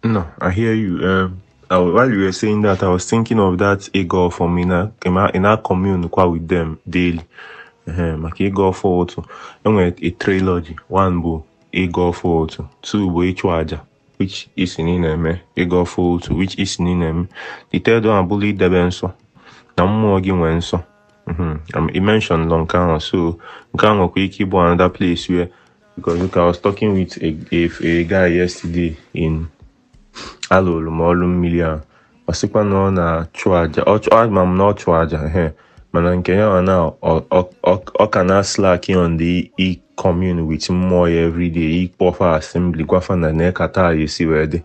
No, I hear you. Um, I, while you were saying that, I was thinking of that ịgọ ọfọ, ị na, ị na, ị na commune kwa with them daily. Uh, maka ịgọ ọfọ ụtụtụ enwere a trilogy one bụ ịgọ ọfọ ụtụtụ two bụ ịchụ aja which ị sị ị na-eme ịgọ ọfọ ụtụtụ which ị sị ị na-eme the third one abụlụ idebe nsọ na mmụọ gị nwee nsọ i mentioned nke ahụ so nke ahụ nwekwa ike ịbụ another place where Because look, I was talking with a, a, a guy yesterday na-alụlụ m ọlụ mmili a ọ sịkwa na ọ na-achụ aja ọ chụ- ama m na ọ chụ aja ehe. mana nke ya ọ na ọ- ọ- ọ- ọ ka na slack on the ị commune with mmụọ ya everyday ịkpọ fa assembly gwa fa na nee ka taa ya-esi wee dị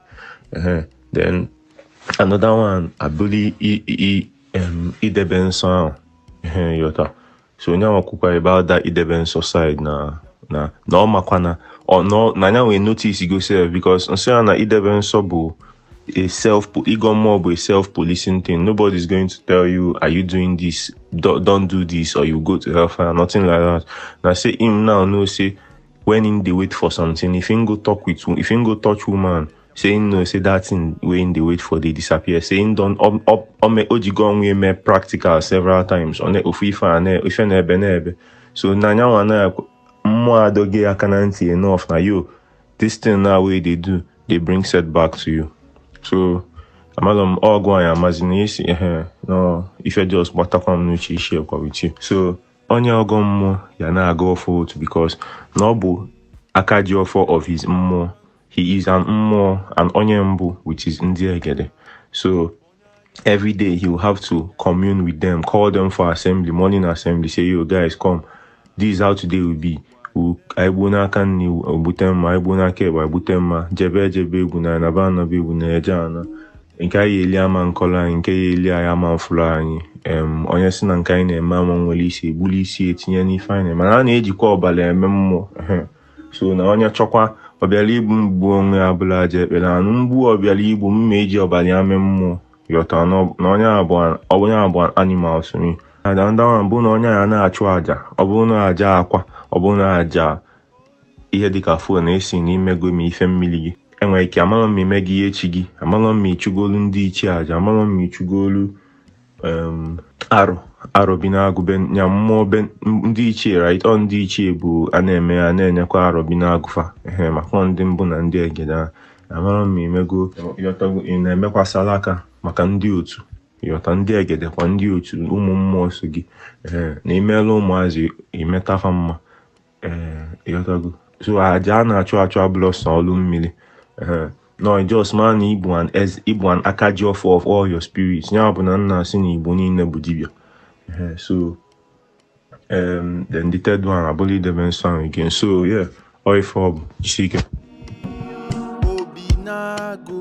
Ehe. then another one abụlụ i- i- i- em, idebe nsọ ahụ Ehe, ịghọta so onye ahụ kwukwa ebe ada idebe nsọ side na na na ọ makwa na ọ nọ na anya nwee notice go self because nsọ ya na idebe nsọ bụ a self ịgọ mmụọ bụ a self policing thing nobody is going to tell you are you doing this don't, don't do this or you go to hellfire nothing like that na say him now know say when him dey wait for something if him go talk with if him go touch woman say him know say that thing wey him dey wait for dey disappear say him don ọ- ọ- ọme o jigo onwe eme practical several times ọ na ofu ife a na ife na ebe na ebe so na nya bụ na mmụọ adọgo ya aka na ntị enough na yo this thing now wey you dey do dey bring setback to you so amalọ m ọgụ anyị amazi na isi ehe na ife just batakwa m n'uche ị share kwa with you so onye ọgọ mmụọ ya na-agọ ọfọ ụtụtụ because na ọ bụ aka ji ọfọ of his mmụọ he is an mmụọ and onye mbụ which is ndị egede so every day he will have to commune with them call them for assembly morning assembly say yo guys come this is how today will be anyị gbuo n'aka nri egbute mma anyị gbuo n'aka ekpe egbute mma jebe ejebe egbuna anaba anaba egbuna eje ana nke anyị eli ama nkọlọ anyị nke ya eli anyị ama mfụlụ anyị onye si na nke anyị na-eme ama nwere isi ebulu isi ya tinye n'ife anyị mana a na-ejikwa ọbala eme mmụọ so na onye chọkwa ọbịala igbu m gbuo onwe ya bụlụ aja ekpe na anụ m gbuo ọbịala igbu m eji ọbala ya mee mmụọ ịghọta na onye a bụ animal so me another one bụ na onye ya na-achụ aja ọ bụrụ na aja akwa ọ bụrụ na aja ihe dịka fon ị sị na imego ma ife mmili gị enwere ike amalọ m imego ihe chi gị amalọ m ịchụgolu ndị ichie aja amalọ m ịchụgolu arọ arọbinagụ be ya mmụọ be ndị ichie right ọ ndị ichie bụ a na-eme a na-enyekwa arọbinagụ fa ehe maka ndị mbụ na ndị egede a amalọ m imego ịghọtago ị na-emekwa salaka maka ndị otu ịghọta ndị egede kwa ndị otu ụmụ mmụọ so gị ee na imeela ụmụazị imeta fa mma ịghọtago so aja a na-achụ achụ abụlọ sọ ọlụ mmili no just ma na ị bụ an ị bụ an aka ji ọfọ of all your spirits ya bụ na a na-asị na igbo niile bụ dibịa so then the third one abụlụ idebe nsọ ahụ again so yeah ọ ife ọ bụ jisike obinagụ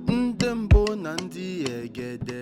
ndị mbụ na ndị egede